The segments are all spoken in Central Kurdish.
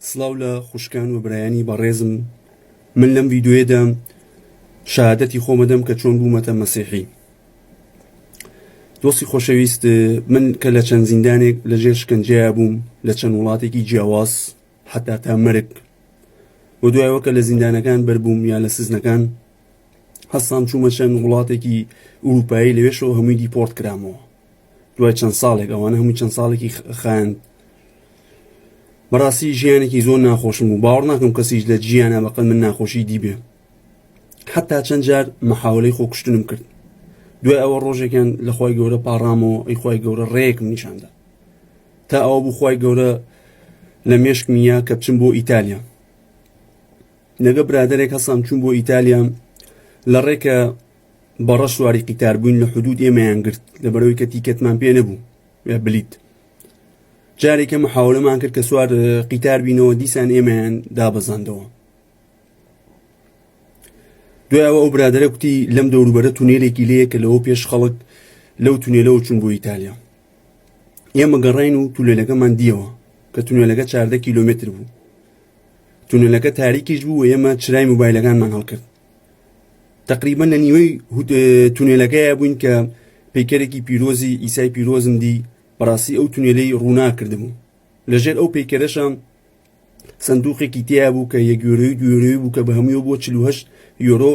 سڵاو لە خوشکان و برایانی بەڕێزم من لەم ویددیوێدا شادەتی خۆمەدەم کە چۆن بوومەتە مەسیحی دۆستی خۆشەویست من کە لە چەند زیندانێک لە ژێر شکنجەیە بووم لە چەند وڵاتێکی جیاواز حتا تا مەرگ و دوایەوە کە لە زیندانەکان بەربووم یا لە سزنەکان هەستان چوومە چەند وڵاتێکی ئوروپایی لەوێشەوە هەمووی دیپۆرت کرامەوە دوای چەند ساڵێک ئەوانە هەموو چەند ساڵێکی خایند بەڕاستی ژیانێکی زۆر ناخۆشم و باوەڕ ناکەم کەسیش لە جیانە بەقل من ناخۆشی دیبێ حتا چەند جار مەحاولەی خۆکشتنم کرد دوای ئەوە ڕۆژێکیان لەخوای گەورە پاڕامەوە ئەی خی گەورە ڕێکم نیشاندا تا ئەوە بوو خی گەورە لە مێشکمیە کە بچم بۆ ئیتالیا لەگە برادێک هەسام چوون بۆ ئیتالیا لە ڕێکە بەڕە سواری قیتار بووین لە حدود ئێمەیان گرت لە بەرەوەی کە تیکەتمان پێ نەبوو بلیت جارێکە محاولەمان کرد کە سوار قیتار بینەوە دیسان ئێمەیان دابەزاندەوە دوایەوە ئەو برادرە کوتی لەم دەوروبەرە تونێلێکی لەیە کە لەوە پێش خەڵک لەو تونێلەوە چون بۆ ئیتالیا ئێمە گەڕین و تولێلەکەمان دیەوە کە تونێلەکە چاردە کیلومتر بوو تونێلەکە تاریکیش بوو ئێمە چرای موبایلەکانمان هەڵکرد تقریبا لە نیوەی تونێلەکەیە بووین کە پیکەرێکی پیرۆزی ئیسای پیرۆزم دی بەڕاستی ئەو تونێلەی ڕوونا کردبوو لەژێر ئەو پیکەرەشە سندوقێکی تیا بوو کە یەگوێرەوەی دوێرەوەی بوو کە بە هەموو بۆ 48 یۆرۆ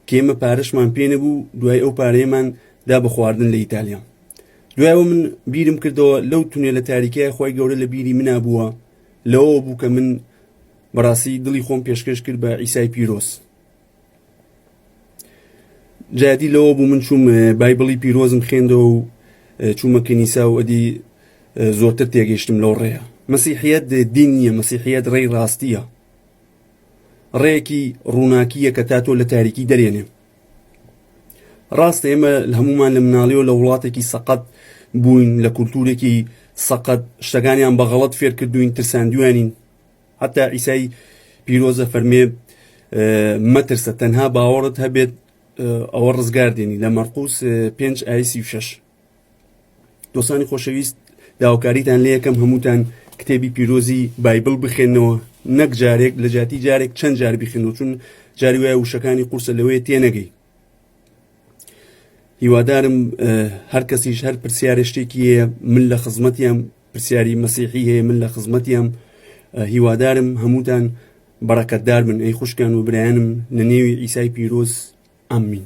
کێمە پارەشمان پێ نەبوو دوای ئەو پارەیەمان دا بە خواردن لە ئیتالیا دوایەوە من بیرم کردەوە لەو تونێ لە تاریکای خۆی گەورە لە بیری منا بووە لەوە بوو کە من بەڕاستی دڵی خۆم پێشکەش کرد بە عیسای پیرۆز جادی لەوە بوو من چوم بایبڵی پیرۆزم خوێندەوە و چوومە کەنیسا و ئەدی زۆرتر تێگەیشتم لەو ڕێە مەسیحیت دین نییە مەسیحیت ڕێی ڕاستیە ڕێکی ڕووناکیە کە تا تۆ لە تاریکی دەرێنێ ڕاستە ئێمە هەمومان لە مناڵیەوە لە وڵاتێکی سەقەت بووین لە کولتورێکی سەقەت شتەکانیان بەغەڵت فێرکردوین ترساندوێنین حتا عیسای پیرۆزە فەرمێ مەترسە تەنها باوەڕت هەبێت ئەوە ڕزگار دێنی لە مەرقوس پێنج ئایسی و شش دۆسانی خۆشەویست داواکاریتان لە یەکەم هەمووتان کتێبی پیرۆزی بایبل بخێنەوە نەک جارێک لە جاتی جارێک چەند جار بخێنەوە چون جاری وایە وشەکانی قورسە لەوەیە تێنەگەی هیوادارم هەر کەسیش هەر پرسیارە شتێکی هەیە من لە خزمەتیان پرسیاری مەسیحی هەیە من لە خزمەتیان هیوادارم هەمووتان بەڕەکەتدار من ئەی خوشکان و برایانم لە نێوی ئیسای پیرۆز ئەمین